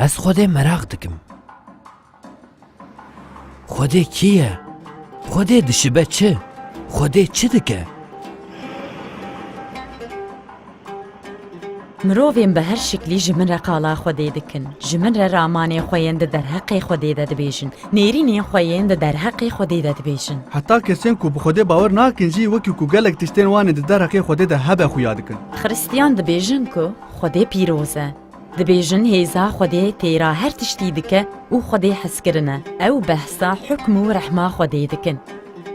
Ez Xwedê meraq dikim. Xwedê kî ye? Xwedê dişibe çi? Xwedê çi dike? Mirovên bi her şiklî ji min re qala Xwedê dikin. Ji min re ramanê xwe yên di derheqê Xwedê de dibêjin. Nêrînên xwe yên di derheqê Xwedê de dibêjin. Heta kesên ku bi Xwedê bawer nakin jî wekî ku gelek tiştên wan ên di derheqê Xwedê de hebe xuya dikin. Xirîstiyan dibêjin ku Xwedê pîroz e. Dibêjin hêza Xwedê têra her tiştî dike û Xwedê hezkirin e. Ew behsa hukm û rehma Xwedê dikin.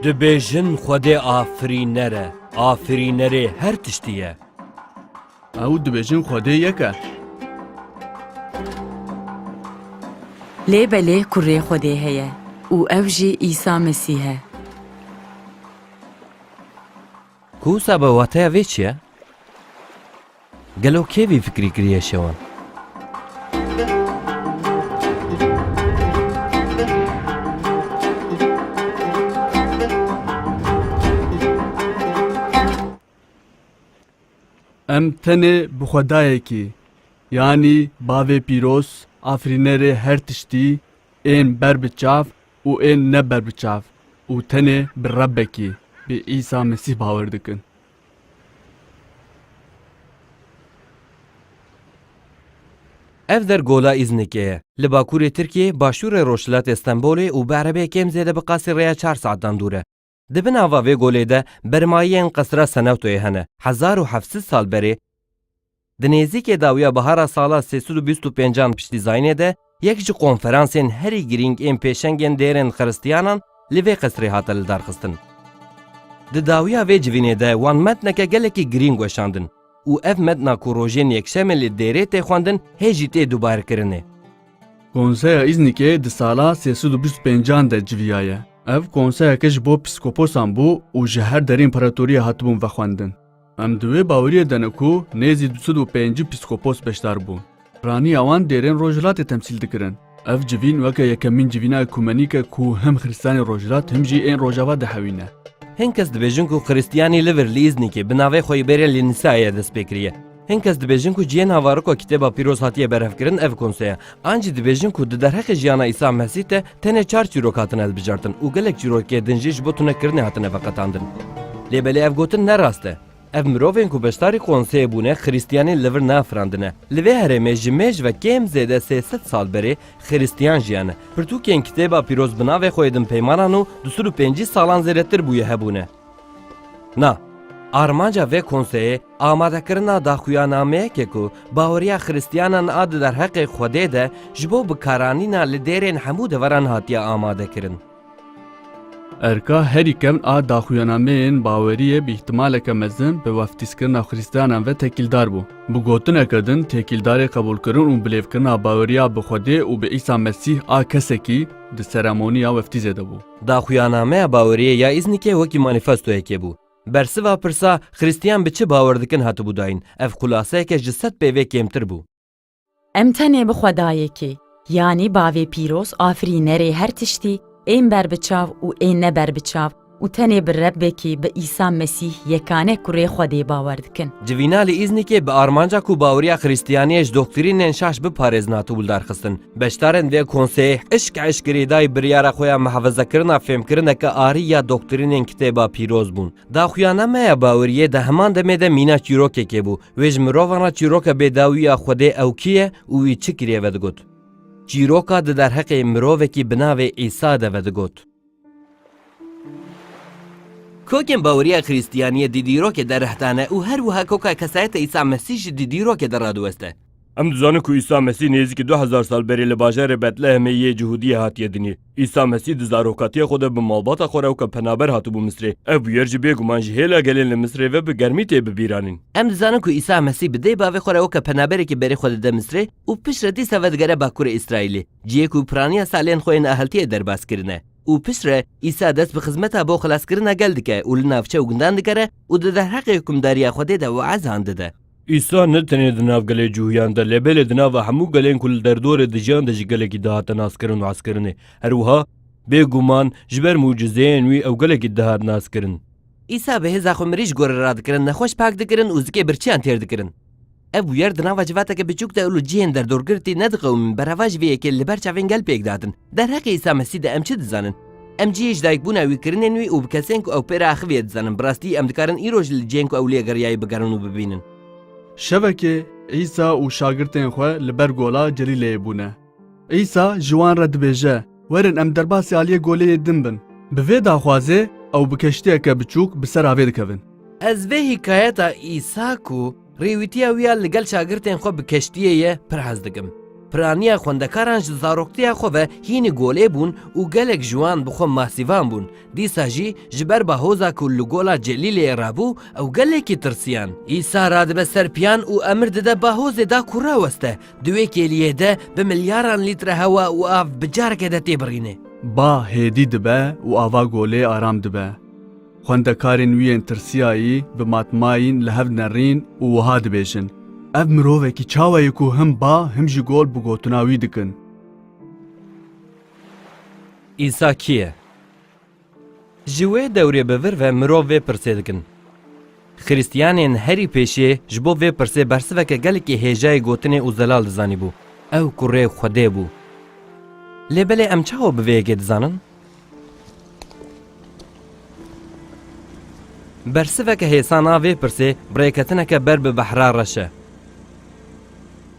Dibêjin Xwedê afirîner e. Afirînerê her tiştî ye. Ew dibêjin Xwedê yek e. Lê belê kurê Xwedê heye û ew jî Îsa Mesîh e. Ku wisa be wateya vê çi ye? Gelo kê vî fikrî kiriye şewan? Em tenê bi xwedayekî yanî Bavê Pîroz, Afrînerê her tiştî ên ber bi çav û ên ne ber bi çav û tenê bi Rebekî, bi Îsa Mesîh bawer dikin. Ev der Gola Îznikê ye. Li bakurê Tirkiyê, başûrê rojhilatê Stenbolê û bi erebeyê kêm zêde bi qasî rêya çar saetan dûr e. Di bin ava vê golê de bermayiyên qesra Senewtoyê hene. Hezar û heft sed sal berê, Di nêzîkê dawiya bihara sala sê sed û bîst û pêncan piştî Zaynê de yek ji konferansên herî girîng ên pêşengên dêrên xiristiyanan li vê qesrê hate lidarxistin. Di dawiya vê civînê de wan metneke gelekî girîng weşandin û ev metna ku rojên yekşemê li dêrê tê xwendin hê jî tê dubarkirinê. Konseya Îznikê di sala sê sed û bîst û pêncan de civiyaye. Ev konseyeke ji bo pîskoposan bû û ji her derê împaratoriya hatibûn vexwendin. Em di wê baweriye de ne ku nêzî du sed û pêncî pîskopos beşdar bûn. Raniya wan dêrên Rojhilatê temsîl dikirin. Ev civîn weke yekemîn civîna ekumenîk e ku him xiristiyanên Rojhilat him jî ên Rojava dihewîne. Hin kes dibêjin ku xiristiyanî li vir li Îznikê bi navê xwe yê bêrê li Nisayê dest pê kiriye. Hin kes dibêjin ku cihên havariko Kitêba Pîroz hatiye berhevkirin ev konseye. An jî dibêjin ku di derheqê jiyana Îsa Mesîh de, Tenê çar çîrok hatine hilbijartin û gelek çîrokê din jî ji bo tunekirinê hatine veqetandin. Lê belê ev gotin ne rast e. Ev mirovên ku beşdarî konseyê bûne xirîstiyanî li vir neafirandine. Li vê herêmê ji mêj ve kêm zêde sê sed sal berê xirîstiyan jiyane. Pirtûkên kitêba pîroz bi navê xwe yê din peymanan û du sed û pêncî salan zêdetir bûye hebûne. Na, armanca vê konseyê amadekirina daxuyanameyeke ku baweriya xiristiyanan a di derheqê Xwedê de ji bo bikaranîna li dêrên hemû deveran hatiye amadekirin. Erka herî kem a daxuyanameyên baweriyê bi îhtimaleke mezin bi weftîskirina xiristiyanan ve tekîldar bû. Bi gotineke din tekîldarê qebûlkirin û bilêvkirina baweriya bi Xwedê û bi Îsa Mesîh a kesekî di seremoniya weftîzê de bû. Daxuyannameya baweriyê ya Îznikê wekî manîfestoyekê bû. Bersiva pirsa Xirîstiyan bi çi bawer dikin hatibû dayîn, ev xulaseyeke ji sed pê vê kêmtir bû. Em tenê bi Xwedayekê, yanî Bavê Pîroz Afirînerê her tiştî, ên berbiçav û ên ne berbiçav û tenê bi Rebbekî, bi Îsa Mesîh yekane kurê Xwedê bawer dikin. Civîna li Îznikê bi armanca ku baweriya Xirîstiyaniyê ji doktrînên şaş biparêzin hatiwildarxistin. Beşdarên vê konseyê eşk eşkerî dayî biryara xwe ya mihefezekirina fêmkirineke arî ya doktrînên Kitêba Pîroz bûn. Daxuyana me ya bawiriyê di heman demê de mîna çîrokekê bû. Wê ji mirovan re çîroka bêdawî ya Xwedê ew kî ye û wî çi kiriye vedigot. Çîroka di derheqê mirovekî bi navê Îsa de vedigot. Kokên baweriya Xrîstiyaniyê di dîrokê de reh dane û her wiha koka kesayeta Îsa Mesîh jî di dîrokê de radiweste. Em dizanin ku Îsa Mesîh nêzîkî du hezar sal berê li bajarê Betlehemê yê Cihudiyê hatiye dinî. Îsa Mesîh di zarokatiya xwe de bi malbata xwe re weke penaber hatibû Misrê. Ev bûyer jî bêguman ji hêla gelên li Misrê ve bi germî tê bibîranîn. Em dizanin ku Îsa Mesîh bi dê bavê xwe re weke penaberekî berê xwe dide Misrê û piştre dîsa vedigere bakurê Îsraîlê. ciyê ku piraniya salên xwe yên aheltiyê derbas kirine û piştre Îsa dest bi xizmeta bo xelaskirina gel dike û li navçe û gundan dikere û di derheqê hikûmdariya Xwedê de weezan dide. Îsa ne tenê di nav gelê cûhiyan de lê belê di nava hemû gelên ku li derdorê dijiyan de ji gelekî dihate naskirin û heskirinê. Her wiha, bê guman, ji ber mucizeyên wî ew gelekî dihat naskirin. Îsa bi hêza xwe mirî ji gorî radikirin, nexweş pak dikirin û zikê birçiyan têr dikirin. Ev bûyer di nava civateke biçûk de û li cihên derdorgirtî nediqewimîn berava ji vê yekê li ber çavên gel pêk dihatin. Derheqê Îsa Mesî de em çi dizanin? Em cihê ji dayikbûna wî, kirinên wî û bi kesên ku ew pê re axiviye dizanin. Bi rastî em dikarin îroj li cihên ku ew li ye geriyayî bigerin û bibînin. Şevekê Îsa û şagirtên xwe li ber gola Celîleyê bûne. Îsa ji wan re dibêje, Werin em derbasî aliyê goleyê din bin. Bi vê daxwazê ew bi keştiyeke biçûk bi ser avê dikevin. Ez vê hîkayeta Îsa ku rêwîtiya wî ya li gel şagirtên xwe bi keştiyê ye pir hez dikim. Piraniya xwendekaran ji zaroktiya xwe ve hînî golê bûn û gelek ji wan bi xwe masîvan bûn. Dîsa jî ji ber bahoza ku li gola Celîleyê re bû ew gelekî tirsiyan. Îsa radibe ser piyan û emir dide bahozê da ku raweste. Di wê kêliyê de bi milyaran lître hewa û av bi careke de têbirîne. Ba hêdî dibe û ava golê aram dibe. Xwendekarên wî yên tirsiyayî bi matmayîn li hev nerîn û wiha dibêjin, Ev mirovekî çawa ye ku him ba him jî gol bi gotina wî dikin? Îsa kî ye? Ji wê dewrê bi vir ve mirov vê pirsê dikin. Xiristiyanên herî pêşê ji bo vê pirsê bersiveke gelekî hêjayê gotinê û zelal dizanîbû, ew ku rê Xwedê bû. Lê belê em çawa bi vê yekê dizanin? Bersiveke hêsan a vê pirsê rêketineke ber bi behra reş e.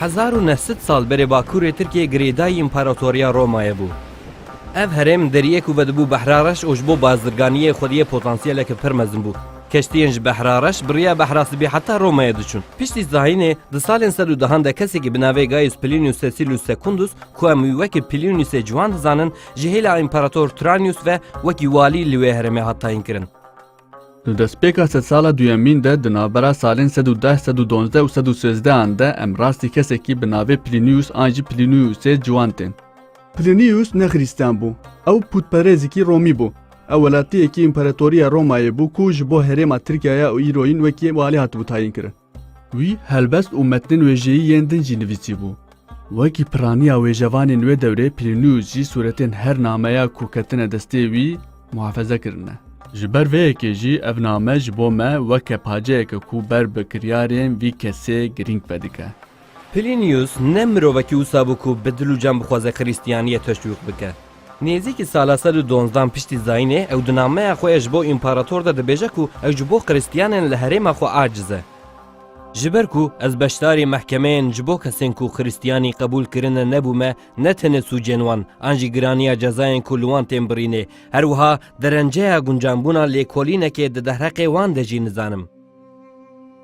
Hezar û neh sed sal berê bakurê Tirkiyê girêdayî Împaratoriya Romayê bû. Ev herêm deriyê ku vedibû Behra Reş û ji bo bazirganiyê xwediyê potansiyeleke pir mezin bû. Keştiyên ji Behra Reş biriya Behra Sibî heta Romayê diçûn. Piştî zahînê di salên sed û dehan de kesekî bi navê Gaius Plinius Cecilius Secundus ku em wî wekî Pliniusê ciwan dizanin Ji hêla Împarator Tranius ve wekî walî li wê herêmê hat tayînkirin. Li destpêka sedsala duyemîn de di navbera salên sed û deh, sed û donzdeh û sed û sêzdehan de em rastî kesekî bi navê Plinius an jî Pliniusê ciwan tên. Plinius ne xirîstiyan bû, ew pûtperêzikî romî bû. Ew welatiyekî Împaratoriya Romayê bû ku ji bo herêma Tirkiyaya û îro yîn wekî walî hatibû tayînkirin. Wî helbest û metnên wêjeyî yên din jî nivîsîbû. Wekî piraniya wêjevanên wê dewrê Plinius jî sûretên her nameya ku ketine destê wî muhafeze kirine. Ji ber vê yekê jî ev name ji bo me weke paceyeke ku ber bi kiryarên vî kesê girîng vedike. Plinius ne mirovekî wisa bû ku bi dil û can bixwaze Krîstiyaniyê teşwîq bike. Nêzîkî sala sed û donzdan piştî zayînê ew di nameya xwe ya ji bo împarator de dibêje ku ew ji bo Krîstiyanên li herêma xwe aciz e. Ji ber ku ez beşdarî mehkemeyên ji bo kesên ku Krîstiyanî qebûl kirine nebûme ne tenê sûcên wan an jî giraniya cezayên ku li wan tên birînê her wiha derenceya guncanbûna lêkolînekê di derheqê wan de jî nizanim.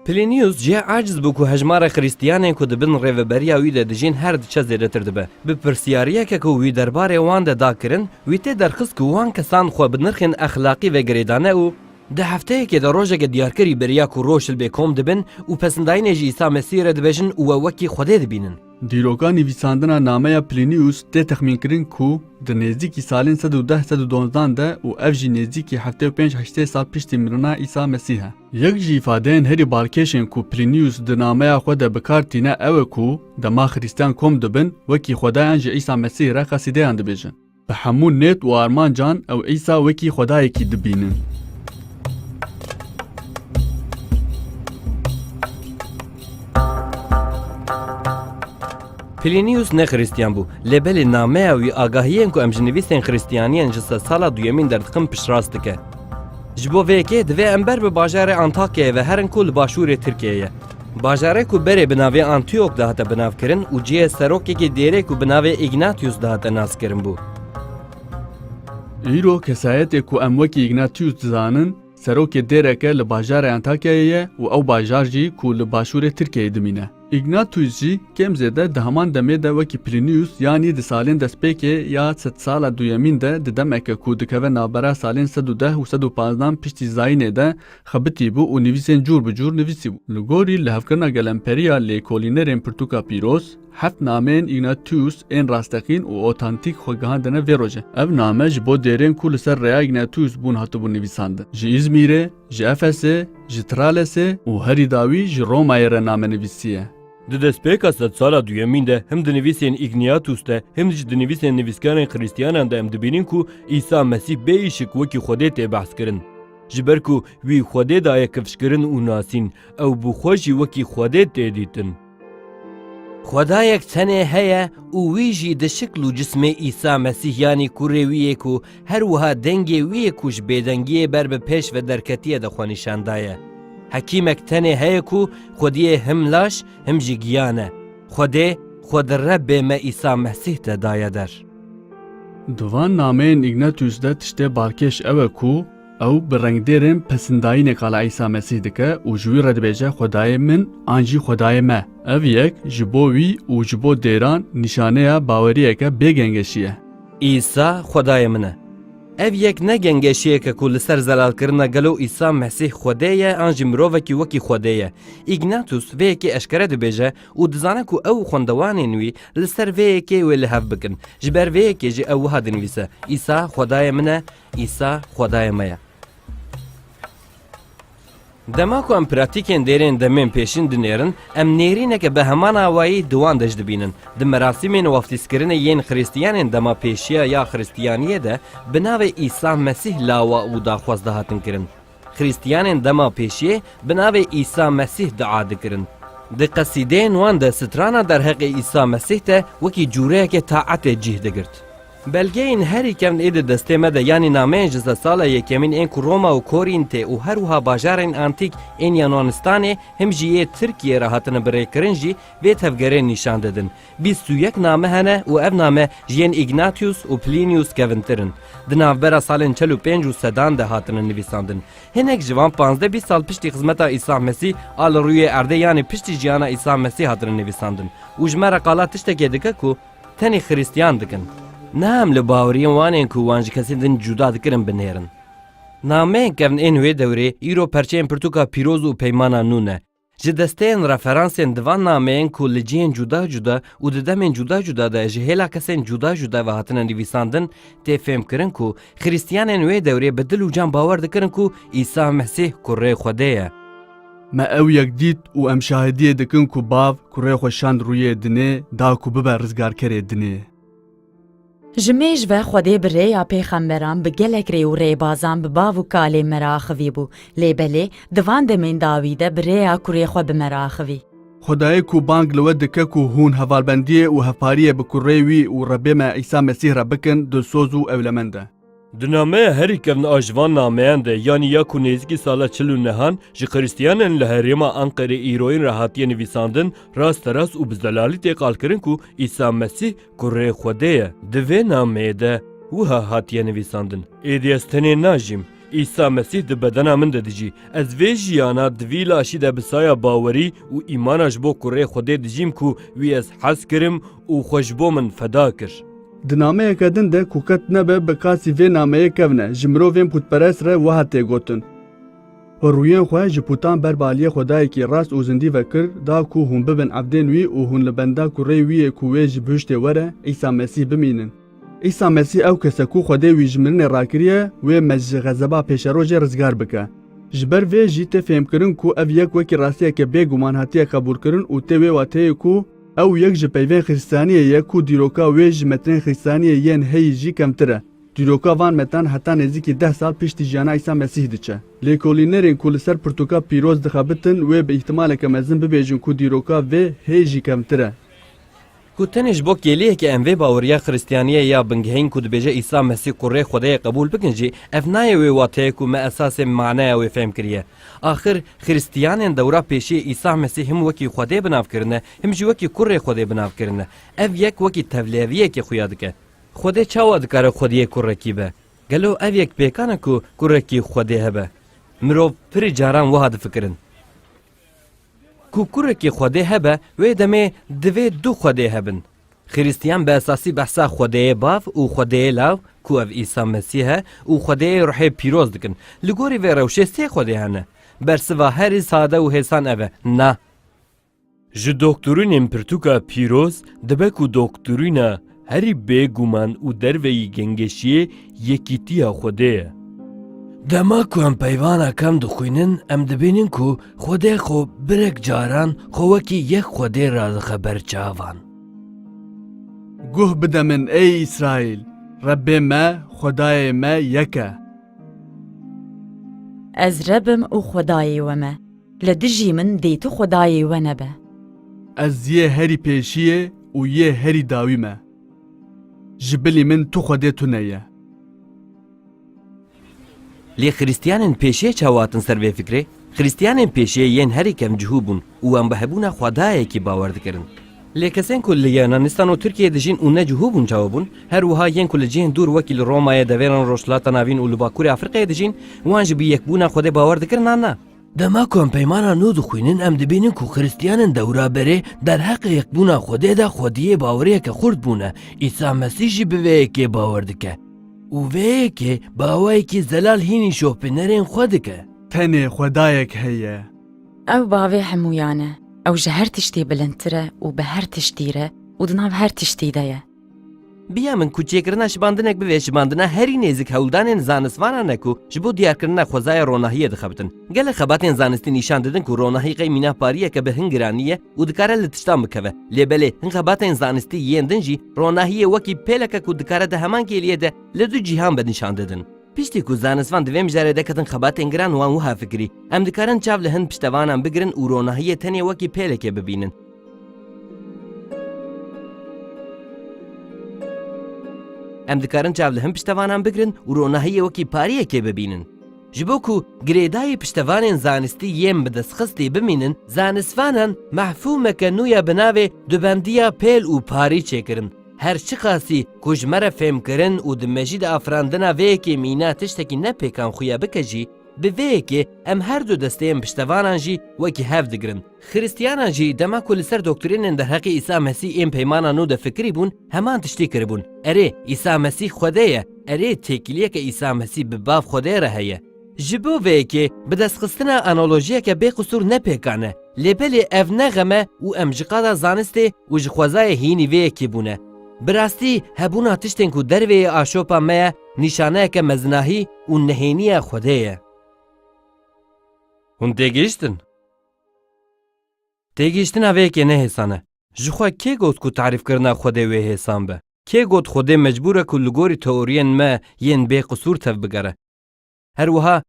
Plinius jî aciz bû ku hejmara Xrîstiyanên ku di bin rêveberiya wî de dijîn her diçe zêdetir dibe. Bi pirsyariyeke ku wî derbarê wan de da kirin, wî tê derxist ku wan kesan xwe bi nirxên exlaqî ve girêdane û, Di hefteyekê de rojeke diyarkirî beriya ku roşilbê kom dibin û pesindayînê ji Îsa Mesîhê re dibêjin û we wekî Xwedê dibînin. Dîroka nivîsandina nameya Plinius tê texmînkirin ku di nêzdîkî salên sed û deh sed û donzdan de û ev jî nêzdîkî heftê û pênc heştê sal piştî mirina Îsa Mesîh e. Yek ji îfadeyên herî balkêşên ku Plinius di nameya xwe de bi kar tîne ew e ku dema Xirîstiyan kom dibin wekî xwedayan ji Îsa Mesîh re qesîdeyan dibêjin. Bi hemû nêt û armancan ew Îsa wekî Xwedayekî dibînin. Plinius ne Xristiyan bû, lê belê nameya wî agahiyên ku em ji nivîsên Xristiyaniyên ji sedsala duyemîn derdiqin piştrast dike. Ji bo vê yekê divê em ber bi bajarê Antakyayê ve herin ku li başûrê Tirkiyeyê ye. Bajarê ku berê bi navê Antiyok dihate binavkirin û cihê serokekî dêrê ku bi navê Îgnatiyus dihate naskirin bû. Îro kesayetê ku em wekî Îgnatiyus dizanin, serokê dêreke li bajarê Antakyayê ye û ew bajar jî ku li başûrê Tirkiyeyê dimîne. Îgnatiyus jî kêm zêde di heman demê de wekî Plîniyus yanî di salên destpêkê ya sedsala duyemîn de di demeke ku dikeve navbera salên sed û deh û sed û panzdan piştî Zayînê de Xebitî bû û nivîsên cûr bi cûr nivîsî bû. Li gorî li hevkirina gelemperiya lêkolînerên pirtûka pîroz, heft nameyên Ignatius ên rasteqîn û otantîk xwe gihandine vê rojê. Ev name ji bo dêrên ku li ser rêya Ignatius bûn hatibûn nivîsandin. Ji Îzmîrê, ji Efesê, ji Tralesê û herî dawî ji Romayê re name nivîsiye. Di destpêka sedsala duyemîn de him di nivîsên Igniatus de him jî di nivîsên nivîskarên xirîstiyanan de em dibînin ku Îsa Mesîh bê îşik wekî Xwedê tê behs kirin. Ji ber ku wî Xwedê daye kifşkirin û nasîn, ew bi xwe jî wekî Xwedê tê dîtin. Xwedayek tenê heye û wî jî di şikl û cismê Îsa Mesîh yanî Kurê wî yê ku her wiha dengê wî yê ku ji bêdengiyê ber bi pêş ve derketiye de xwe nîşan daye. Hekîmek tenê heye ku Xwediyê him laş him jî giyan e. Xwedê xwe di Rebbê me Îsa Mesîh de daye der. Di van nameyên Ignatius de tiştê balkêş ew e ku ew bi rengdêrên pesindayîneka li Îsa Mesîh dike û ji wî re dibêje Xwedayê min an jî Xwedayê me. Ev yek ji bo wî û ji bo dêran nîşaneya baweriyeke bê gengeşî ye. Îsa Xwedayê min e. Ev yek ne gengeşiyek e ku li ser zelalkirina gelo Îsa Mesîh Xwedê ye an jî mirovekî wekî Xwedê ye. Ignatius vê yekê eşkere dibêje û dizane ku ew û xwendewanên wî li ser vê yekê wê li hev bikin. Ji ber vê yekê jî ew wiha dinivîse, Îsa Xwedayê min e, Îsa Xwedayê me ye. Dema ku em pratîkên dêrên demên pêşîn dinêrin, em nêrîneke bi heman awayî di wan de jî dibînin. Di merasîmên waftîzkirinê yên Xiristiyanên dema pêşiya ya Xiristiyaniyê de bi navê Îsa Mesîh lawa û daxwaz dihatin kirin. Xrîstiyanên dema pêşiyê bi navê Îsa Mesîh dua dikirin. Di qesîdeyên wan de strana derheqê Îsa Mesîh de wekî cûreyekê taetê cîh digirt. Belgeyên herî kevn ê di destê me de yanî nameyên ji zesala yekemîn ên ku Roma û Korîntê û her wiha bajarên antîk ên Yunanistanê him jî yê Tirkiyê re hatine birêkirin jî vê tevgerê nîşan didin. Bîst û yek name hene û ev name ji yên Ignatius û Plinius kevintir in. Di navbera salên çel û pênc û sedan de hatine nivîsandin. Hinek ji van panzdeh bîst sal piştî xizmeta Îsa Mesî a li rûyê erdê yanî piştî jiyana Îsa Mesî hatine nivîsandin û ji me re qala tiştekê dike ku tenê xirîstiyan dikin. Niha em li baweriyên wan ên ku wan ji kesên din cuda dikirin binêrin. Nameyên kevn ên wê dewrê îro perçeyên pirtûka pîroz û peymana nû ne. Ji desteyên referansên di van nameyên ku li cihên cuda cuda û di demên cuda cuda de ji hêla kesên cuda cuda ve hatine nivîsandin tê fêmkirin ku xirîstiyanên wê dewrê bi dil û can bawer dikirin ku Îsa Mesîh Kurê Xwedê ye. Me ew yek dît û em şahidiyê dikin ku Bav kurê xwe şand rûyê dinê da ku bibe rizgarkerê dinê. Ji mêj ve Xwedê bi rêya pêxemberan bi gelek rê û rêbazan bi bav û kalên me re axivîbû, lê belê di van demên dawî de bi rêya kurê xwe bi me re axivî. Xwedayê ku bang li we dike ku hûn hevalbendiyê û hevpariyê bi kurê wî û Rebê me Îsa Mesîh re bikin dilsoz û ewlemend e. Di nameya herî kevna a ji van nameyan de yanî ya ku nêzîkî sala çil û nehan ji xiristiyanan li herêma Anqerê îroyîn re hatiye nivîsandin, rasterast û bi zelalî tê qalkirin ku Îsa Mesîh kurê Xwedê ye. Di vê nameyê de wiha hatiye nivîsandin. Êdî ez tenê najîm. Îsa Mesîh di bedena min de dijî. Ez vê jiyana di vî laşî de bi saya bawerî û îmana ji bo kurê Xwedê dijîm ku wî ez hez kirim û xwe ji bo min feda kir. Di nameyeke din de ku qet nebe bi qasî vê nameyê kevne, ji mirovên pûtperest re wiha tê gotin, Xwe rûyên xwe ji pûtan ber bi aliyê xwedayekî rast û zindî ve kir, da ku hûn bibin evdên wî û hûn li benda kureyê wî yê ku wê ji bihiştê were, Îsa Mesîh, bimînin. Îsa Mesîh ew kes e ku Xwedê wî ji mirinê rakiriye, wê me ji xezeba pêşerojê rizgar bike. Ji ber vê jî tê fêhmkirin ku ev yek wekî rastiyeke bêguman hatiye qebûlkirin û tê wê wateyê ku, Ew yek ji peyvên xîristaniyê ye ku dîroka wê ji metrên xîristaniyê yên heyî jî kemtir e. Dîroka van metran heta nêzîkî deh sal piştî jiyana Îsa Mesîh diçe. Lêkolînerên ku li ser pirtûka pîroz dixebitin wê bi îhtimaleke mezin bibêjin ku dîroka vê hê jî kemtir e. Ku tenê ji bo kêliyeke em vê baweriya xîristaniyê ya bingehîn ku dibêje Îsa Mesîh kurê Xwedayê qebûl bikin jî, ev nayê wê wateyê ku me esasê maneya wê fêhm kiriye. Axir Xiristiyanên dewra pêşiyê Îsa Mesîh him wekî Xwedê bi nav kirine, him jî wekî Kurê Xwedê bi nav kirine. Ev yek wekî tevlêviyekê xuya dike. Xwedê çawa dikare Xwediyê kurekî be? Gelo ev yek pêkan e ku kurekî Xwedê hebe? Mirov pirî caran wiha difikirin. Ku kurekî Xwedê hebe wê demê divê du Xwedê hebin. Xirîstiyan bi esasî behsa Xwedêyê Bav û Xwedêyê Law ku ev Îsa Mesîh e û Xwedêyê Ruhê Pîroz dikin. Li gorî vê rewşê sê Xwedê hene. Bersiva herî sade û hêsan ev e, Na. Ji doktorînên pirtûka pîroz dibe ku doktorîna herî bêguman û derveyî gengeşiyê Yekîtiya Xwedê ye. Dema ku em peyvana kem dixwînin em dibînin ku Xwedê xwe birek caran xwe wekî yek Xwedê radixe ber çavan. Guh bide min ey Îsraîl, Rebbê me, Xwedayê me yek e. Ez Reb im û Xwedayê we me, li dijî min dê tu Xwedayê we nebe. Ez yê herî pêşiyê û yê herî dawî me. Ji bilî min tu Xwedê tune ye. Lê xirîstiyanên pêşê çawa hatin ser vê fikrê? Xirîstiyanên pêşê yên herî kem cihû bûn û wan bi hebûna Xwedayekî bawer dikirin. Lê kesên ku li Yunanîstan û Tirkiyeyê dijîn û ne cihû bûn çawa bûn? Her wiha yên ku li cihên dûr wekî li Romayê, devêran Rojhilata Navîn û li Bakurê Afrîqayê dijîn, wan jî bi yekbûna Xwedê bawer dikirin an na? Dema ku em peymana nû dixwînin em dibînin ku Xristiyanin dewra berê derheqê yekbûna Xwedê de xwediyê baweriyeke xurt bûne. Îsa Mesîh jî bi vê yekê bawer dike. Û vê yekê bi awayekî zelal hînî şopînerên xwe dike. Tenê Xwedayek heye. Ew bavê hemûyan e. Ew ji her tiştî bilindtir e û bi her tiştî re û di nav her tiştî de ye. Biya min ku çêkirina şibandinek bi vê şibandina herî nêzik hewldanên zanistvanan e ku ji bo diyarkirina xwezaya ronahiyê dixebitin. Gelek xebatên zanistî nîşan didin ku ronahî qey mîna pariyeke bi hin giranî ye û dikare li tiştan bikeve. Lê belê hin xebatên zanistî yên din jî ronahiyê wekî pêleke ku dikare di heman kêliyê de li du cîhan be nîşan didin. Piştî ku zanistvan di vê mijarê de ketin xebatên giran wan wiha fikirî, Em dikarin çav li hin piştevanan bigirin û ronahiyê tenê wekî pêlekê bibînin. Em dikarin çav li hin piştevanan bigirin û ronahiyê wekî pariyekê bibînin. Ji bo ku girêdayî piştevanên zanistî yên bi destxistî bimînin, zanistvanan mefhûmeke nû ya bi navê dubendiya pêl û parî çêkirin. Her çiqasî ku ji me re fêmkirin û di mejî de afirandina vê yekê mîna tiştekî ne pêkan xuya bike jî, bi vê yekê em her du desteyên piştevanan jî wekî hev digirin. Xirîstiyanan jî dema ku li ser doktrînên derheqê Îsa Mesî ên Peymana Nû de fikirî bûn, heman tiştî kiribûn, Erê, Îsa Mesî Xwedê ye! Erê, têkiliyeke Îsa Mesî bi Bav Xwedê re heye! Ji bo vê yekê, bidestxistina analojiyeke bêqisûr ne pêkan e, lê belê ev ne xem e û em ji qada zanistê û ji xwezayê hînî vê yekê bûne. Bi rastî, hebûna tiştên ku dervê yê aşopa me ye, nîşaneyeke mezinahî û nehêniya Xwedê ye. Hûn têgihiştin? Têgihiştina vê yekê ne hêsan e. Ji xwe kê got ku tarîfkirina Xwedê wê hêsan be? Kê got Xwedê mecbûr e ku li gorî teoriyên me yên bê qisûr tevbigere? Her wiha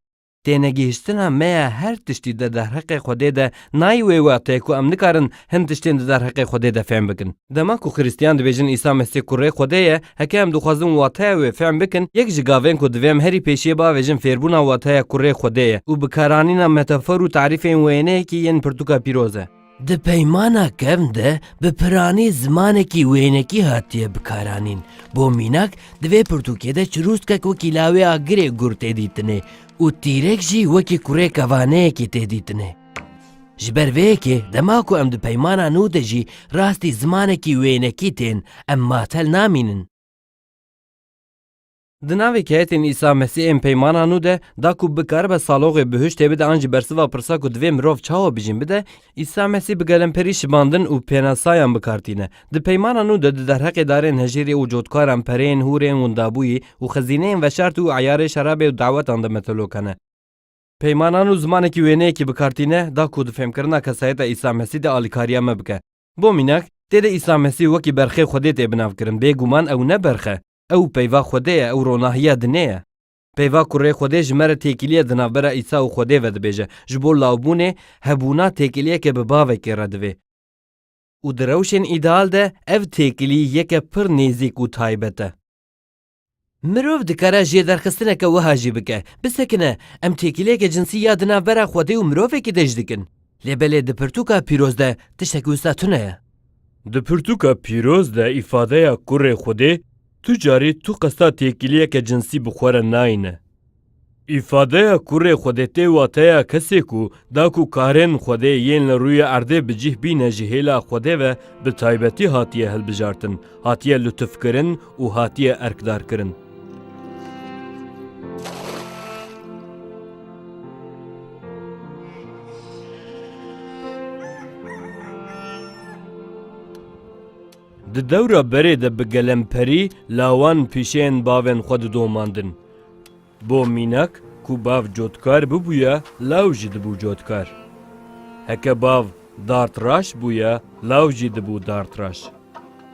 tênegihiştina me ya her tiştî di derheqê Xwedê de nayê wê wextê ku em nikarin Hin tiştên di derheqê Xwedê de fehm bikin. Dema ku Xiristiyan dibêjin Îsa Mesîh kurê Xwedê ye, heke em dixwazin wateya wê fehm bikin, yek ji gavên ku divê em herî pêşiyê biavêjin fêrbûna wateya kurê Xwedê ye û bikaranîna metafor û tarîfên wêneyekî yên pirtûka pîroz e. Di Peymana Kevn de bi piranî zimanekî wênekî hatiye bikaranîn. Bo mînak, di vê pirtûkê de çirûskek wekî lawê agirê gur tê dîtinê û tîrek jî wekî kurê kevaneyekî tê dîtinê. Ji ber vê yekê dema ku em di peymana nû de jî rastî zimanekî wênekî tên, em matel namînin. Di navê keyetên Îsa Mesî ên peymana nû de da ku bikaribe saloxê bihuştê bide an jî bersiva pirsa ku divê mirov çawa bijîn bide, Îsa Mesî bi gelemperî şibandin û pênasayan bi kar tîne. Di peymana nû de di derheqê darên hejîrê û cotkaran, pereyên, hûrên, windabûyî û xizîneyên veşartî û eyarê şerabê û dawetan de metelok hene. Peymanan û zimanekî wêneyekî bi kar tîne da ku di fêmkirina kesayeta Îsa Mesî de alîkariya me bike. Bo mînak, têde Îsa Mesî wekî berxê Xwedê tê binavkirin, bêguman ew ne berx e, ew peyva Xwedê ye, ew ronahiya dinê ye. Peyva kurê Xwedê ji me re têkiliyê di navbera Îsa û Xwedê ve dibêje. Ji bo lawbûnê, hebûna têkiliyeke bi bavekê re divê. Û di rewşên îdeal de ev têkilî yeke pir nêzîk û taybet e. Mirov dikare jêderxistineke wiha jî bike, bisekine, em têkiliyeke cinsî ya di navbera xwedê û mirovekî de jî dikin. Lê belê di pirtûka pîroz de tiştekî wisa tune ye. Di pirtûka pîroz de îfadeya kurê xwedê tu carî tu qesta têkiliyeke cinsî bi xwe re nayîne. Îfadeya kurê Xwedê tê wateya kesê ku da ku karên Xwedê yên li rûyê erdê bi cîh bîne ji hêla Xwedê ve bi taybetî hatiye hilbijartin, hatiye lutufkirin û hatiye erkdarkirin. Di dewra berê de bi gelemperî lawan pîşeyên bavên xwe didomandin. Bo mînak ku bav cotkar bibûye law jî dibû cotkar. Heke bav dardraş bûye law jî dibû dardraş.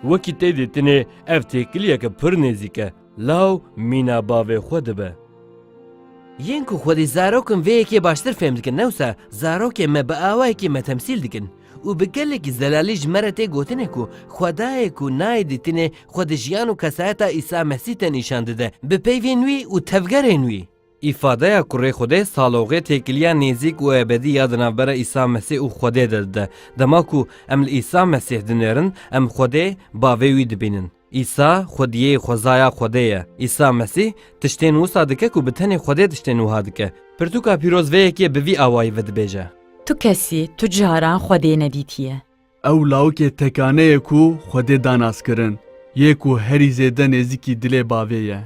Wekî tê dîtinê ev têkiliyeke pir nêzîk e, law mîna bavê xwe dibe. Yên ku xwedî zarokin vê yekê baştir fêm dikin ne wisa zarokên me bi awayekî me temsîl dikin. Û bi gelekî zelalî ji me re tê gotinê ku Xwedayê ku nayê dîtinê xwe di jiyan û kesayeta Îsa Mesîh de nîşan dide bi peyvên wî û tevgerên wî. Îfadeya kurê Xwedê saloxê têkiliya nêzîk û ebedî ya di navbera Îsa Mesîh û Xwedê de dide. Dema ku em li Îsa Mesîh dinêrin, em Xwedê, Bavê wî dibînin. Îsa, Xwediyê xwezaya Xwedê ye. Îsa Mesîh, tiştên wisa dike ku bi tenê Xwedê tiştên wiha dike. Pirtûka pîroz vê yekê bi vî awayî vedibêje. Tu kesî tu caran Xwedê nedîtiye. Ew lawikê tekane ye ku Xwedê da naskirin, yê ku herî zêde nêzîkî dilê bavê ye.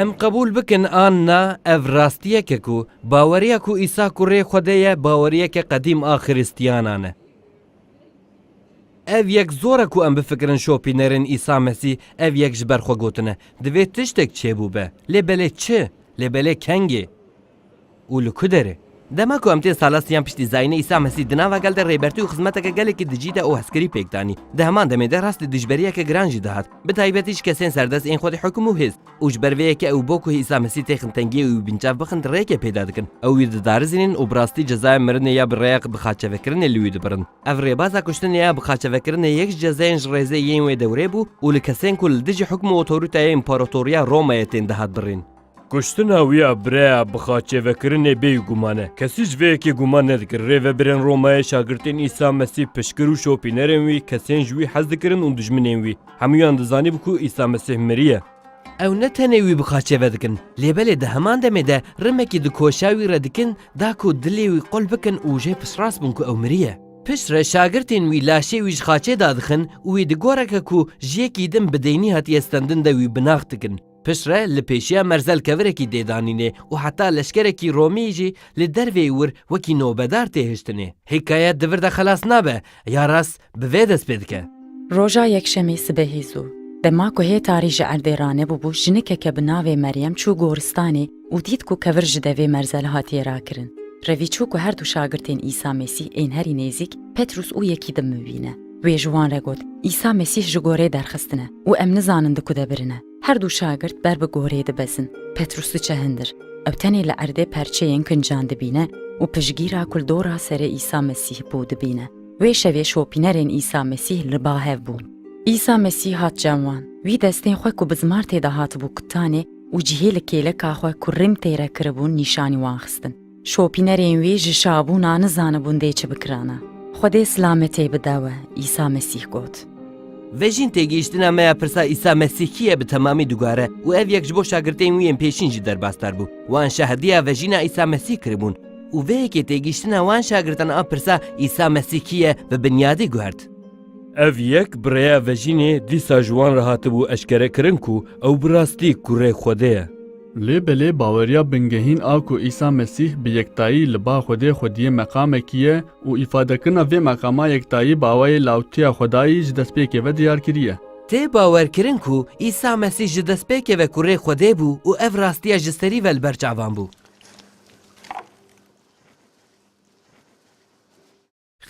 Em qebûl bikin an na, ev rastiyek e ku baweriya ku Îsa kurê Xwedê ye baweriyeke qedîm a Xiristiyanan e. Ev yek zor e ku em bifikirin şopînerên Îsa Mesîh ev yek ji ber xwe gotine, divê tiştek çêbûbe. Lê belê çi? Lê belê kengê? Û li ku derê? Dema ku em tên sala siyan piştî zayînê Îsa Mesîh di nava gel de rêbertî û xizmeteke gelekî dijî de û hezkirî pêk danî. Di heman demê de rastî dijberiyeke giran jî dihat. Bi taybetî ji kesên serdest ên xwedî hukum û hêz. û ji ber vê yekê ew bo ku Îsa Mesîh tê xintengiyê wî binçav bixin rêkê pêda dikin. Ew wî didarizînin û bi rastî cezaya mirinê ya bi rêya bixaçevekirinê li wî dibirin. Ev rêbaza kuştinê ya bixaçevekirinê yek ji cezayên ji rêzê yên wê dewrê bû û li kesên ku li dijî hukm û otoritaya Împaratoriya Romayê tên dihat birîn. Kuştina wî ya bi rêya bixaçevekirinê bêyî guman e. Kesî ji vê yekê guman nedikir rêvebirên Romayê şagirtên Îsa Mesîh piştgir û şopînerên wî, kesên ji wî hez dikirin û dijminên wî, Hemûyan dizanîb ku Îsa Mesîh miriye. Ew ne tenê wî bi qaçê ve dikin, lê belê di heman demê de rimekî di koşa wî re dikin da ku dilê wî qul bikin û jê piştrast bin ku ew miriye. Pişt re şagirtên wî laşê wî ji qaçê da dixin û wî di goreke ku ji yekî din bi deynî hatiye stendin de wî binax dikin. Piştre li pêşiya merzelkevirekî dê danînê û heta leşkerekî Romî jî li dervê wir wekî nobedar tê hiştinê. Hîkayet di vir de xelas nabe, ya rast bi vê dest pê dike. Roja yekşemî sibehî zû, dema ku hê tarî ji erdê ranebûbû jinikeke bi navê Meryem çû goristanê û dît ku kevir ji devê merzel hatiye rakirin. Revî çû ku her du şagirtên Îsa Mesîh ên herî nêzîk, Petrûs û Yekîdim mivîne. Wê ji wan re got, Îsa Mesîh ji goreyê derxistin e û em nizanin di ku de birin e. Her du şagirt ber bi goreyê dibezin. Petrûs diçe hindir. Ew tenê li erdê perçeyên kincan dibîne û piştgîra ku li dora serê Îsa Mesîh bû dibîne. Wê şevê şopînerên Îsa Mesîh li ba hev bûn. Îsa Mesîh hat cem wan. Wî destên xwe ku bi zimar tê de hatibû kutanê û cihê li kêleka xwe ku rîm têre kiribûn nîşanî wan xistin. Şopînerên wî ji şabûna nizanibûn dê çi bikirana. Xwedê silametê bide we, Îsa Mesîh got. Vejîn têgihiştina me ya pirsa Îsa Mesîh kî ye bi temamî dugare û ev yek ji bo şagirtên wî yên pêşîn jî derbasdar bû. Wan şahidiya vejîna Îsa Mesîh kiribûn û vê yekê têgihiştina wan şagirtan a pirsa Îsa Mesîh kî ye bi binyadî guhert. Ev yek bi rêya vejînê dîsa ji wan re hatibû eşkerekirin ku ew bi rastî kurê Xwedê ye. Lê belê baweriya bingehîn a ku Îsa Mesîh bi yektayî li ba Xwedê xwediyê meqamekî ye û îfadekirina vê meqama yektayî bi awayê lawtiya Xwedayî ji destpêkê ve diyar kiriye. Tê bawerkirin ku Îsa Mesîh ji destpêkê ve kurê Xwedê bû û ev rastiya ji serî ve li ber çavan bû.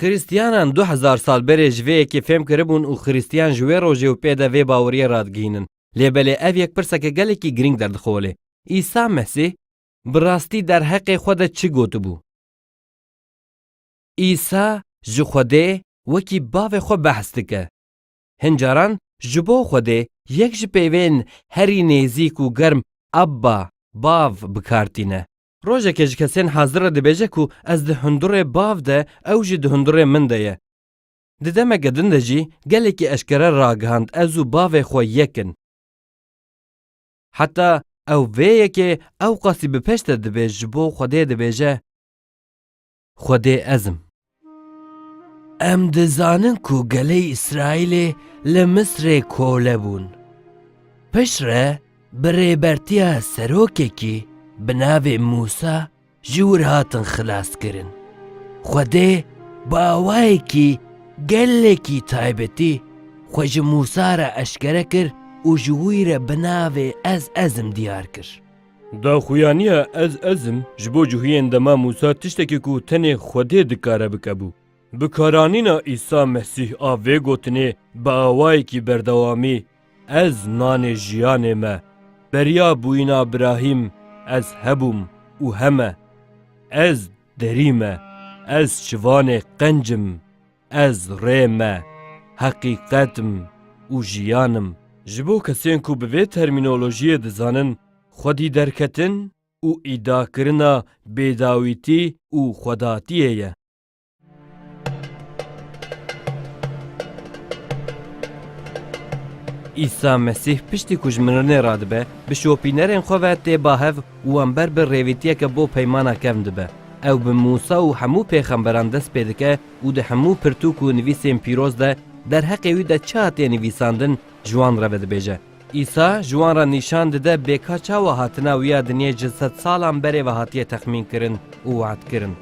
Xirîstiyanan du hezar sal berê ji vê yekê fêm kiribûn û Xirîstiyan ji wê rojê û pê de vê baweriyê radigihînin. Lê belê ev yek pirseke gelekî girîng derdixole, Îsa Mesîh bi rastî derheqê xwe de çi gotibû? Îsa ji Xwedê wekî Bavê xwe behs dike. Hin caran ji bo Xwedê yek ji peyvên herî nêzîk û germ Abba, Bav, bikar tîne. Rojekê ji kesên hazir re dibêje ku ez di hundurê bav de ew jî di hundurê min de ye. Di demeke din de jî gelekî eşkere ragihand ez û bavê xwe yek in. Heta ew vê yekê ewqasî bi peşte dibêj ji bo Xwedê dibêje. Xwedê ez im. Em dizanin ku gelê Îsraîlê li Misrê kole bûn. Piştre bi rêbertiya serokekî bi navê Mûsa ji wir hatin xilaskirin. Xwedê bi awayekî gelekî taybetî xwe ji Mûsa re eşkere kir û ji wî re bi navê Ez Ez im diyar kir. Daxuyaniya ez ez im ji bo cihuyên dema Mûsa tiştekî ku tenê Xwedê dikare bike bû. Bikaranîna Îsa Mesîh a vê gotinê bi awayekî berdewamî, Ez nanê jiyanê me, beriya bûyîna birahîm ez hebûm û heme, ez derî me, ez çivanê qenc im Ez rê me, heqîqet im û jiyan im. Ji bo kesên ku bi vê termînolojiyê dizanin xwedî derketin û îdiakirina bêdawîtî û xwedatiyê ye. Îsa Mesîh piştî ku ji mirinê radibe, bi şopînerên xwe ve tê bahev û wan ber bi rêvîtiyeke bo peymana kevn dibe. Ew bi Mûsa û hemû pêxemberan dest pê dike û di hemû pirtûk û nivîsên pîroz de derheqê wî de çi hatiye nivîsandin ji wan re vedibêje. Îsa ji wan re nîşan dide bêka çawa hatina wî ya dinyê ji sed salan berê ve hatiye texmînkirin û wehdkirin.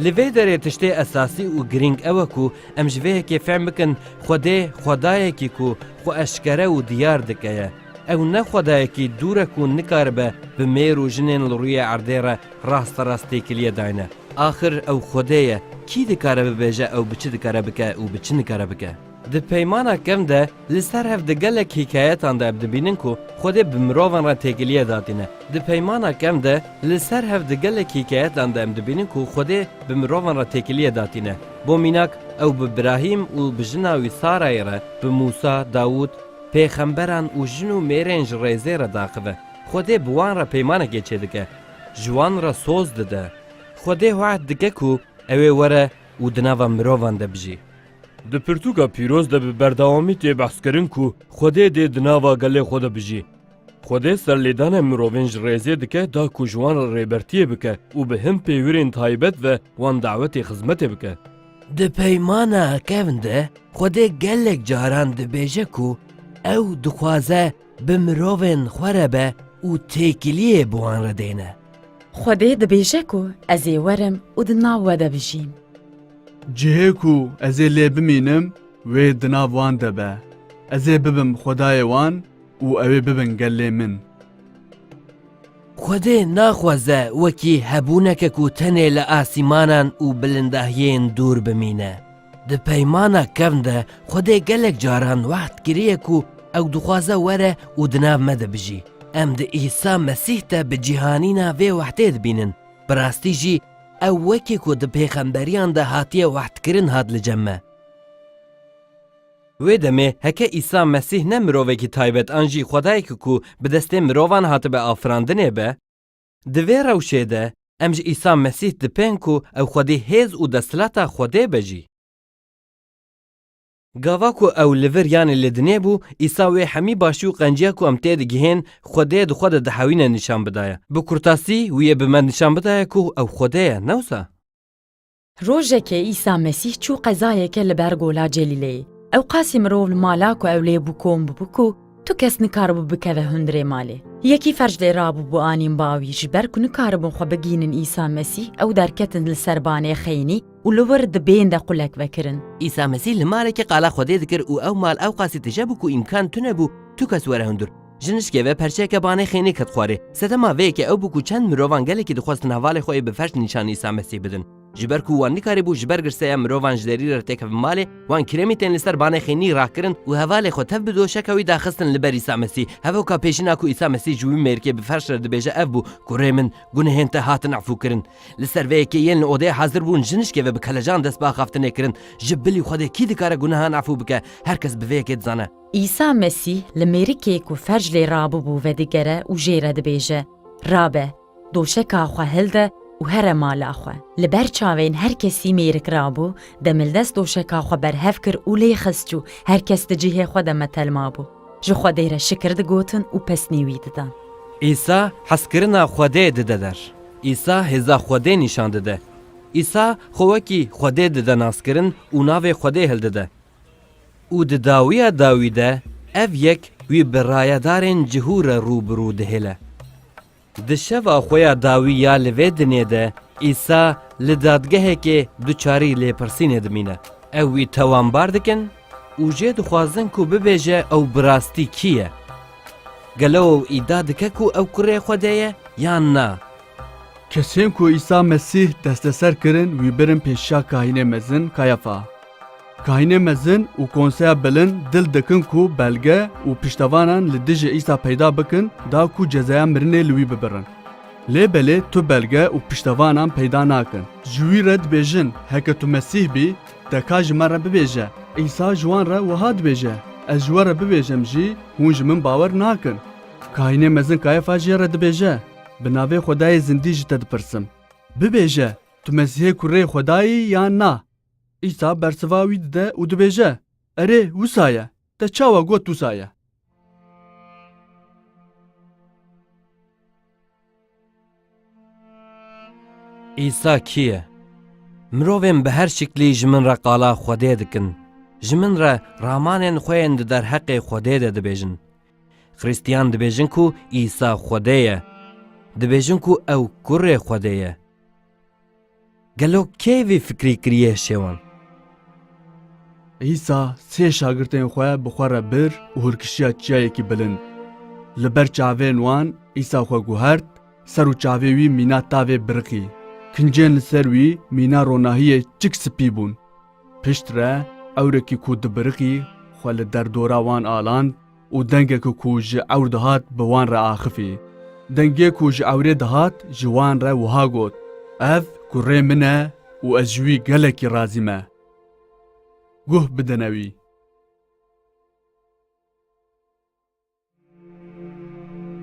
Li vê derê tiştê esasî û girîng ew e ku em ji vê yekê fehm bikin Xwedê xwedayekî ku xwe eşkere û diyar dike ye. Ew ne xwedayekî dûr e ku nikaribe bi mêr û jinên li rûyê erdê re rasterast têkiliyê dayne. Axir ew xwedê ye, kî dikare bibêje ew bi çi dikare bike û bi çi nikare bike? Di Peymana Kevn de li ser hev di gelek hîkayetan de ev dibînin ku xwedê bi mirovan re têkiliyê datîne. Di Peymana Kevn de li ser hev di gelek hîkayetan de em dibînin ku xwedê bi mirovan re têkiliyê datîne. Bo mînak ew bi Birahîm û bi jina wî Sarayê re, bi Mûsa, Dawûd, Pêxemberan û jin û mêrên ji rêzê re daxive, Xwedê bi wan re peymanekê çêdike, ji wan re soz dide. Xwedê wehd dike ku ew ê were û di nava mirovan de bijî. Di pirtûka pîroz de bi berdewamî tê behskirin ku Xwedê dê di nava gelê xwe de bijî. Xwedê serlêdanên mirovên ji rêzê dike da ku ji wan re rêbertiyê bike û bi hin pêwirên taybet ve wan dawetê xizmetê bike. Di peymana kevn de Xwedê gelek caran dibêje ku ew dixwaze bi mirovên xwe re be û têkiliyê bi wan re dêne. Xwedê dibêje ku ez ê werim û di nav we de bijîm. Cihê ku ez ê lê bimînim wê di nav wan de be. Ez ê bibim Xwedayê wan û ew ê bibin gelê min. Xwedê naxweze wekî hebûneke ku tenê li asîmanan û bilindahiyên dûr bimîne. Di peymana kevn de Xwedê gelek caran wehd kiriye ku ew dixwaze were û di nav me de bijî. Em di Îsa Mesîh de bi cîhanîna vê wehdê dibînin. Bi rastî jî ew wekî ku di pêxemberiyan de hatiye wehdkirin hat li cem me. Wê demê heke Îsa Mesîh ne mirovekî taybet an jî Xwedayekî ku bi destên mirovan hatibe afirandinê be, di vê rewşê de em ji Îsa Mesîh dipên ku ew xwedî hêz û desthilata Xwedê be jî. Gava ku ew li vir yanê li dinê bû, Îsa wê hemî başî û qenciya ku em têdigihên Xwedê di xwe de dihewîne nîşan bidaye. Bi kurtasî wî yê bi me nîşan bidaye ku ew Xwedê ye, ne wisa? Rojekê Îsa Mesîh çû qezayeke li ber gola Celîleyê. Ewqasî mirov li mala ku ew lê bû kom bûbû ku tu kes nikaribû bikeve hundirê malê. Yekî ferç lê rabûbû anîn ba wî ji ber ku nikaribûn xwe bigihînin Îsa Mesîh ew derketin li ser banê xeynî û li wir di bên de qulek vekirin. Îsa Mesîh li malekê qala Xwedê dikir û ew mal ewqasî tije bû ku îmkan tune bû tu kes were hundir. Ji nişkê ve perçeyeke banê xênî ket xwarê. Sedema vê yekê ew bû ku çend mirovan gelekî dixwestin hevalê xwe yê bi ferç nîşanî Îsa Mesîh bidin. Ji ber ku wan nikarîbû ji ber girseya mirovan ji derî re têkevin malê, wan kirêmî tên li ser banê xênî rakirin û hevalê xwe tev bi doşeka wî daxistin li ber Îsa Mesîh. Hevoka pêşîna ku Îsa Mesîh ji wî mêrikê bi ferç re dibêje ev bû ku Rê min, gunehên te hatin efûkirin. Li ser vê yekê yên li odeyê hazir bûn ji nişkê ve bi kelecan dest bi axaftinê kirin. Ji bilî Xwedê kî dikare gunehan efû bike? Her kes bi vê yekê dizane. Îsa Mesîh li mêrikê ku ferj lê rabûbû vedigere û jê re dibêje, Rabe, doşeka xwe hilde û here mala xwe. Li ber çavên her kesî mêrik rabû, demildest doşeka xwe berhev kir û lê xist çû, her kes di cihê xwe de metel mabû. Ji Xwedê re şikir digotin û pesnî wî didan. Îsa hezkirina Xwedê dide der. Îsa hêza Xwedê nîşan dide. Îsa xwe wekî Xwedê dide naskirin û navê Xwedê hildide. Û di dawiya dawî de ev yek wî bi rayedarên cihû re rû bi rû dihêle. Di şeva xwe ya dawî ya li vê dinyê de Îsa li dadgehekê duçarî lêpirsînê dimîne. Ew wî tawanbar dikin û jê dixwazin ku bibêje ew bi rastî kî ye. Gelo ew îdia dike ku ew kurê Xwedê ye yan na? Kesên ku Îsa Mesîh desteser kirin wî birin pêşiya kahînê mezin Kayafa. Kahinê mezin û konseya bilind dil dikin ku belge û piştevanan li dijî Îsa peyda bikin da ku cezaya mirinê li wî bibirin. Lê belê tu belge û piştevanan peyda nakin. Ji wî re dibêjin, Heke tu Mesîh bî, te ka ji me re bibêje. Îsa ji wan re wiha dibêje, Ez ji we re bibêjem jî, hûn ji min bawer nakin. Kahinê mezin Kayefa jê re dibêje, Bi navê Xwedayê zindî ji te dipirsim. Bibêje, tu Mesîhê Kurê Xwedayî yan na? Îsa bersiva wî dide û dibêje, Erê, wisa ye. Te çawa got wisa ye. Îsa kî ye? Mirovên bi her şiklî ji min re qala Xwedê dikin, ji min re ramanên xwe yên di derheqê Xwedê de dibêjin. Xristiyan dibêjin ku Îsa Xwedê ye. Dibêjin ku ew kurê Xwedê ye. Gelo kê vê fikrê kiriye şewan? Îsa sê şagirtên xwe bi xwe re bir û hûrkişiya çiyayekî bilind. Li ber çavên wan Îsa xwe guhert ser û çavê wî mîna tavê biriqî. Kincên li ser wî mîna ronahiyê çik spî bûn. Piştre ewrekî ku dibiriqî xwe li derdora wan aland, û dengek ku ji ewr dihat bi wan re axifî. Dengê ku ji ewrê dihat ji wan re wiha got, Ev kurê min e û ez ji wî gelekî razî me. Guh bidine wî.